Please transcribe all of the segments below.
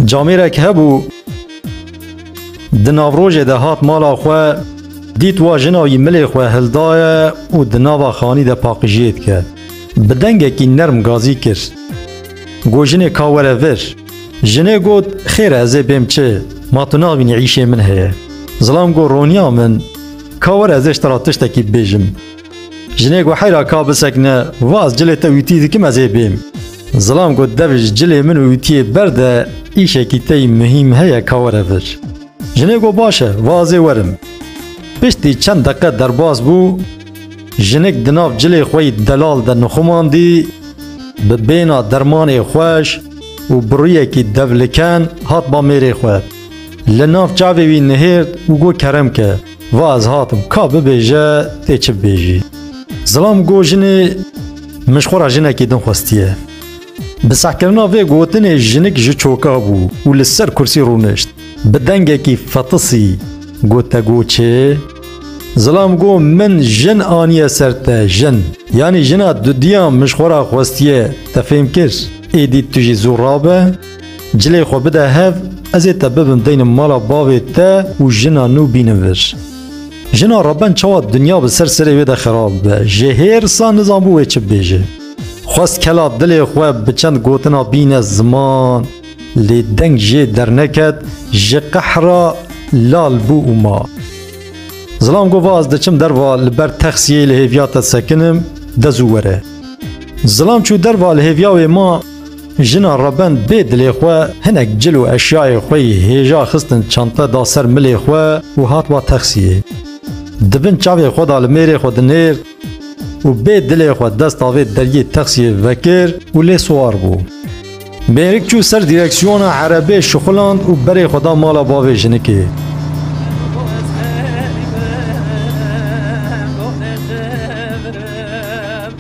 Camêrek hebû di navrojê de hat mala xwe dît wa jina wî milê xwe hildaye û di nava xanî de paqijiyê dike. Bi dengekî nerm gazî kir. Got jinê ka were vir. Jinê got xêr e ez ê bêm çi, ma tu navînî îşê min heye. Zilam got roniya min ka were ez ê ji te re tiştekî bibêjim. Jinê ku heyra ka bisekine vaz cilê te wîtî dikim ez ê bêm. Zilam got dev ji cilê min û wîtiyê berde îşekî tey muhîm heye ka were vir. Jinê got baş e vazê werim. Piştî çend deqe derbas bû jinik di nav cilê xwe yî delal de nixumandî bi bêna dermanê xweş û biruyekî devliken hat ba mêrê xwe. Li nav çavê wî nihêrt û got kerem ke. Va ez hatim, ka bibêje tê çi bibêjî. Zilam got jinê Min ji xwe re jinekî din xwestiye. Bi sehkirina vê gotinê jinik ji çoka bû û li ser kursî rûnişt. Bi dengekî fetisî got te got çi? Zilam got min jin aniye ser te, jin. Yanî jina dudiyan min ji xwe re xwestiye, te fêm kir. Êdî tu jî zû rabe. Cilê xwe bide hev, ez ê te bibim deynim mala bavê te û jina nû bînin vir. Jina reben çawa dinya bi ser serê wê de xerab be, ji hêrsa nizanbû wê çi bibêje. Xwest kela dilê xwe bi çend gotina bîne ziman, lê deng jê derneket, ji qehra lal bû û ma. Zilam got va ez diçim derva li ber texsiyê li hêviya te sekinim, de zû were. Zilam çû derva li hêviya wê ma, Jina rebend bê dilê xwe hinek cil û eşyayê xwe yî hêja xistin çante da ser milê xwe û hat va texsiyê. Di bin çavê xwe da li mêrê xwe dinêrt û bê dilê xwe desta vê dergê texsiyê vekir û lê siwar bû. Mêrik çû ser dîreksiyona erebê şixuland û berê xwe da mala bavê jinikê.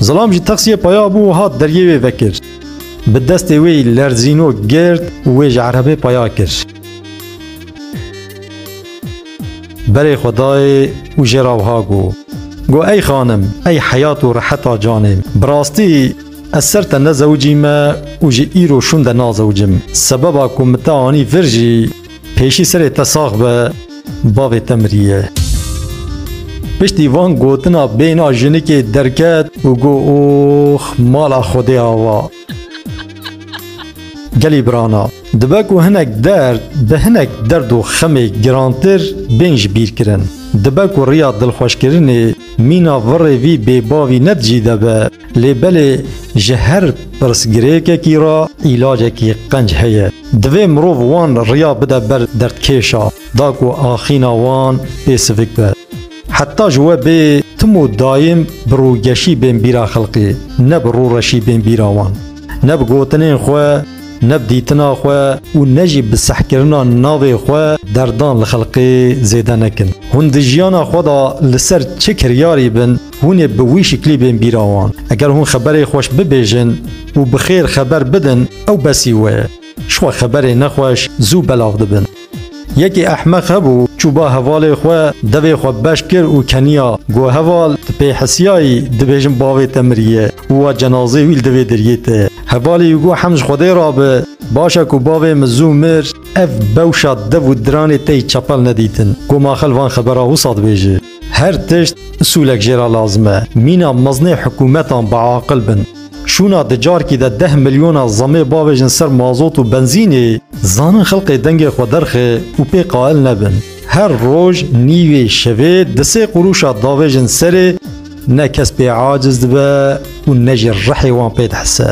Zilam ji texsiyê paya bû û hat deryê wê vekir. Bi destê wê lerzînok girt û wê ji erebê paya kir. Berê xwe dayê û jê ra wiha got, Got ey xanim, ey heyat û reheta canê, bi rastî ez ser te nezewicîme û ji îro şûn de nazewicim. Sebeba ku min te anî vir jî, Pêşî serê te sax be bavê te miriye. Piştî van gotina bêna jinikê derket û got ox mala xwedê ava. Gelî birana, dibe ku hinek derd bi hinek derd û xemê girantir bên ji bîr kirin. Dibe ku riya dilxweşkirinê mîna virê vî bêbavî ne di cî de be. Lê belê ji her pirsgirêkekî re îlacekî qenc heye. Divê mirov wan riya bide ber derdkêşa da ku axîna wan pê sivik be. Heta ji we bê tim û dayim bi rûgeşî bên bîra xelkê, ne bi rûreşî bên bîra wan. Ne bi gotinên xwe, ne bi dîtina xwe û ne jî bi sehkirina navê xwe derdan li xelkê zêde nekin. Hûn di jiyana xwe de li ser çi kiryarî bin, Hûn ê bi wî şiklî bên bîra wan. Eger hûn xeberê xweş bibêjin û bi xêr xeber bidin ew besî we ye. Şiwa xeberê nexweş zû belav dibin. Yekê ehmeq hebû çû ba hevalê xwe devê xwe beş kir û keniya got heval tu pê hesiyayî dibêjin bavê te miriye û wa cenazê wî li divê deriyê te ye. Hevalê wî got hemd ji xwedê re be baş e ku bavê min zû mir. Ev bewşa dev û diranê te yî çepel nedîtin. Got ma xel van xebera wisa dibêje. Her tişt usulek jê re lazim e. Mîna mezinê hikûmetan biaqil bin. Şûna di carkî de deh milyona zemê bavêjin ser mazot û benzînê, zanin xelkê dengê xwe derxe û pê qail nebin. Her roj, nîvê, şevê di sê qurûşa davêjin serê, ne kes pê aciz dibe û ne jî rihê wan pê dihise.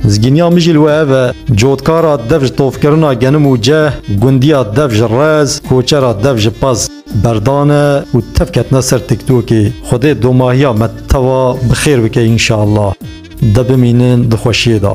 Zgîniya min jî li we ev e. Cotkara dev ji tovkirina genim û ceh, gundiya dev ji rez, koçera dev ji pez. Berdane û tev ketine ser tiktokê. Xwedê domahiya me tewa bi xêr bike înşallah. De bimînin di xweşiyê de.